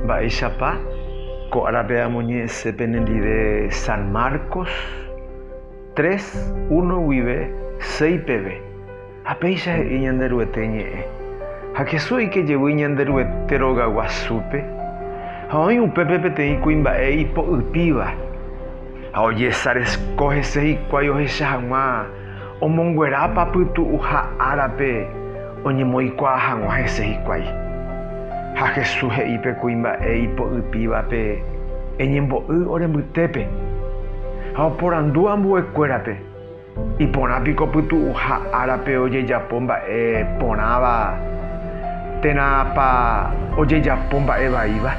Mba'éichapa ko árape amoñe'ẽse penendive San Marcos tres, uno guive seis peve, ha péicha he'i Ñanderuete ñe'ẽ, Ha Jesús oike jevy Ñanderuete rogaguasúpe, ha oĩ upépe peteĩ kuimba'e ipo'ypíva, ha ojesaresko hese hikuái ohecha hag̃ua Omonguerápa pytu'uha árape oñemoikuaa hag̃ua hese hikuái? Ha Jesús he'i pe kuimba'e ipo'ypívape, Eñembo'y ore mbytépe. Ha oporandu ambuekuérape, Iporã piko pytu'uha árape ojejapo mba'e porãva térãpa ojejapo mba'e vaíva?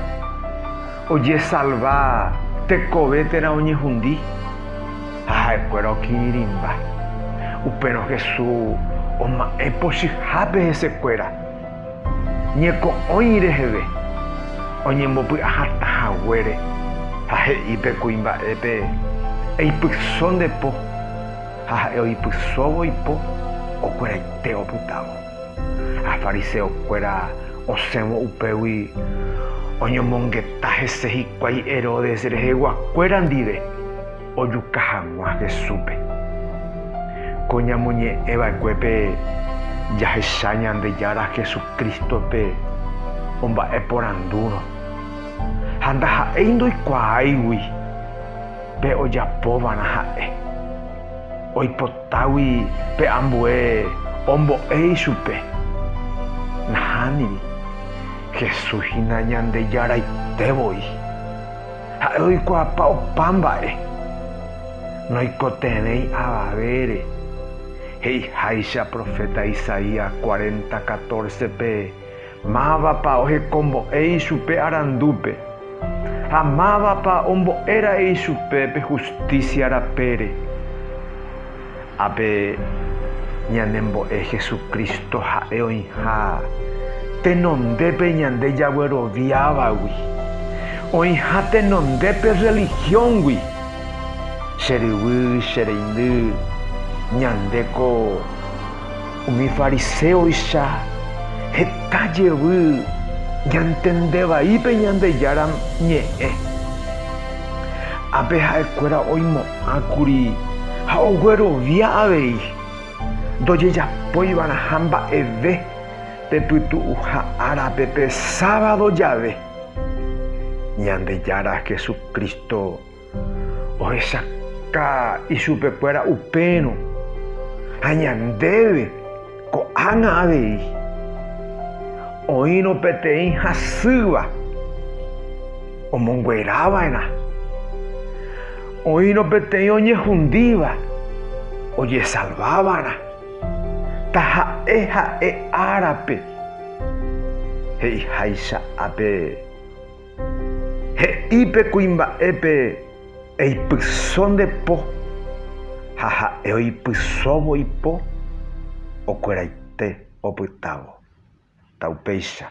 Ojesalva tekove térã oñehundi. ha ha'ekuéra okirirĩmba. Upérõ Jesús oma'ẽ pochyhápe hesekuéra ñeko'õi reheve oñembopy'a hatã haguére ha he'i pe kuimba'épe, Eipyso nde po, ha ha'e oipysóvo ipo, okueraite opytávo. Ha fariseokuéra osẽvo upégui oñomongeta hese hikuái Herodes reheguakuéra ndive. Ojuka hag̃ua Jesúspe. Ko ñamoñe'ẽ va'ekuépe jahecha Ñandejára Jesucrístope omba'eporandúrõ, ha ndaha'éi ndoikuaáigui pe ojapova'erã ha'e. Oipotágui pe ambue ombo'e ichupe. Nahániri, Jesús hína Ñandejáraite voi. Ha'e oikuaapa opa mba'e, noikotevẽi avavére, he'iháicha proféta Isaías cuarenta catorce-pe, Mávapa ohekombo'e ichupe arandúpe, ha mávapa ombo'e ra'e ichupe pe hustísia rapére. Ha pe ñanembo'e Jesucristo ha'e oĩha tenondépe ñande jagueroviávagui, oĩha tenondépe religión-gui. Che ryvy, che reindy, ñande ko umi fariséoicha heta jevy ñantende vai pe Ñandejára Ñe'ẽ. Ha pe ha'ekuéra oimo'ã. Ha kuri ha oguerovia avei ndojejapóiva'erãha mba'eve pe pytu'uha árape pe sábado jave. Ñandejára Jesucristo ohechaka ichupekuéra upérõ ha ñandéve. Ko'ág̃a avei, oĩrõ peteĩ hasýva omonguerava'erã, oĩrõ peteĩ oñehundíva ojesalvávarã, taha'e ha'e árape he'iháicha ape. He'i pe kuimba'épe eipyso nde po, ha ha'e oipysóvo ipo, okueraite opytávo. Ta upéicha.